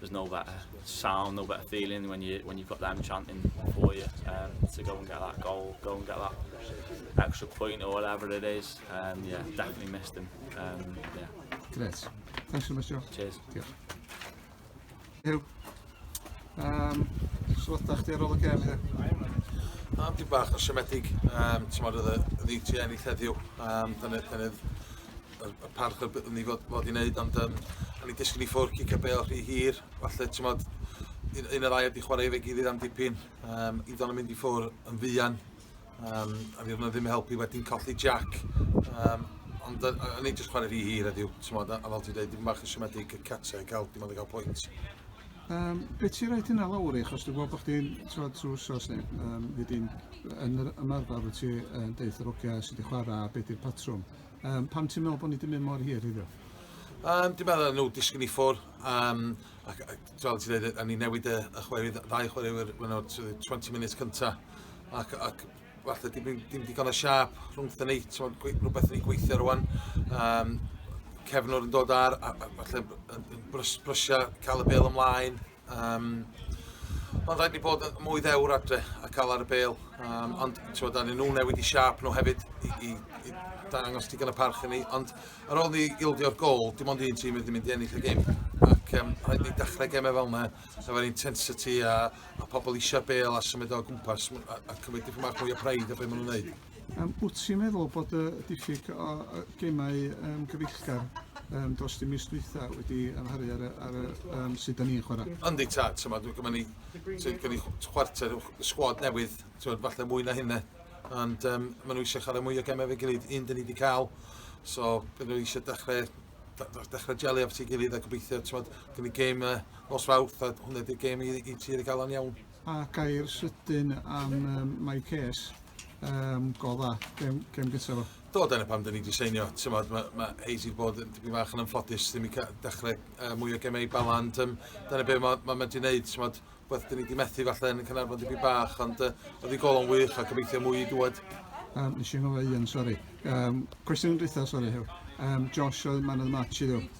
there's no better sound, no better feeling when you when you've got them chanting for you um, to go and get that goal, go and get that extra point or whatever it is. Um, yeah, definitely missed him. Um, yeah. Great. Thanks so much, Joe. Cheers. Diolch. Hugh, um, sylwada chdi ar ôl y gem heddiw? Am di bach o siomedig, um, ti'n modd oedd y dditi ennill heddiw, um, dyna, dyna y, y parch oedd ni fod, fod i wneud, ond um, o'n i'n disgyn i ffwrdd cicio bel rhy hir, falle, ti'n modd, un, un o'r air wedi chwarae fe gilydd am dipyn, um, i ddod yn mynd i ffwrdd yn fuan, um, a fi ddim yn helpu wedyn colli Jack, um, ond o'n i'n just chwarae rhy hir heddiw, ti'n modd, a, a fel ti'n dweud, dim bach yn siomedig y catau, cael, dim ond i cael pwynt. Um, be ti'n rhaid hynna lawr i, achos dwi'n gweld bod chdi'n trod trwy sos ni, um, wedyn yn yr ymarfer wyt ti yn deithr ogia sydd wedi chwarae a beth yw'r patrwm. Um, pam ti'n meddwl bod ni wedi mynd mor hir iddo? Um, dwi'n meddwl nhw disgyn i ffwr. Um, ac, fel ti'n dweud, a ni newid y, y chwarae, ddau chwaraewyr mewn o'r 20 munud cyntaf. Ac, ac falle dim, dim digon o siap rhwngth ni, rhywbeth ni'n gweithio rwan. Um, cefnwr yn dod ar, a, a falle brys, brysia cael y bel ymlaen, Um, ond rhaid ni bod yn mwy ddewr adre a cael ar y bel. Um, ond ti'n da ni nhw newid i siap nhw hefyd i, i, i dangos digon y parch i ni. Ond ar ôl ni ildio'r gol, dim ond un tîm wedi mynd i ennill y gym. Ac um, rhaid ni dechrau gemau fel yna, efo'r intensity a, a pobl eisiau bel a symud o gwmpas a, a cymryd dipyn bach mwy o praid o beth maen nhw'n gwneud. Um, wyt ti'n meddwl bod y diffyg o gemau um, gyfeillgar um, dros dim mis dwytha wedi amharu ar, ar, ar um, sut da ni'n chwarae? Yndi ta, ti'n meddwl, gyda ni, gyda ni chwarter o sgwad newydd, ti'n meddwl, falle mwy na hynna. Ond um, maen nhw eisiau chwarae mwy o gemau fe gilydd, un dyn ni wedi cael, so maen nhw eisiau dechrau dechrau jelu at ei gilydd a gobeithio, ti'n meddwl, gyda ni gêm uh, nos fawrth, a hwnna ydy'r gêm i, i ti wedi gael o'n iawn. A gair sydyn am um, my case, um, go dda, gem, gem gyntaf fo. Do, dyna pam dyn ni wedi seinio. Mae ma, ma Hayes wedi bod yn dipyn fach yn ymffodus, ddim i dechrau uh, mwy o gemau baland. Um, dyna beth mae ma, ma wedi gwneud, ti'n meddwl, beth dyn ni wedi methu falle yn y Cynarfon dipyn bach, ond uh, oedd ei golon wych a gobeithio mwy i dwad. Um, nes i'n gofio un, sori. Um, cwestiwn yn dwytha, sori, Hew. Um, Josh oedd man of the match i ddiw.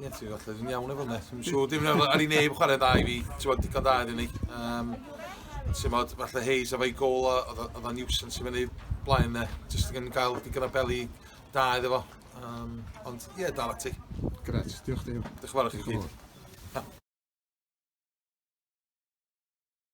Ie, ti'n falle dwi'n iawn efo hwnna. Dwi'n siŵr, dim yn ar ei neb chwarae dda i fi. Ti'n bod digon da iddyn ni. Um, ti'n bod, falle Hayes efo'i gol, oedd o'n nuisance i fyny blaen ne. Just yn gael digon o beli da iddo fo. Um, ond ie, dal ati. Gret, diolch Dave. Diolch yn fawr i chi gyd.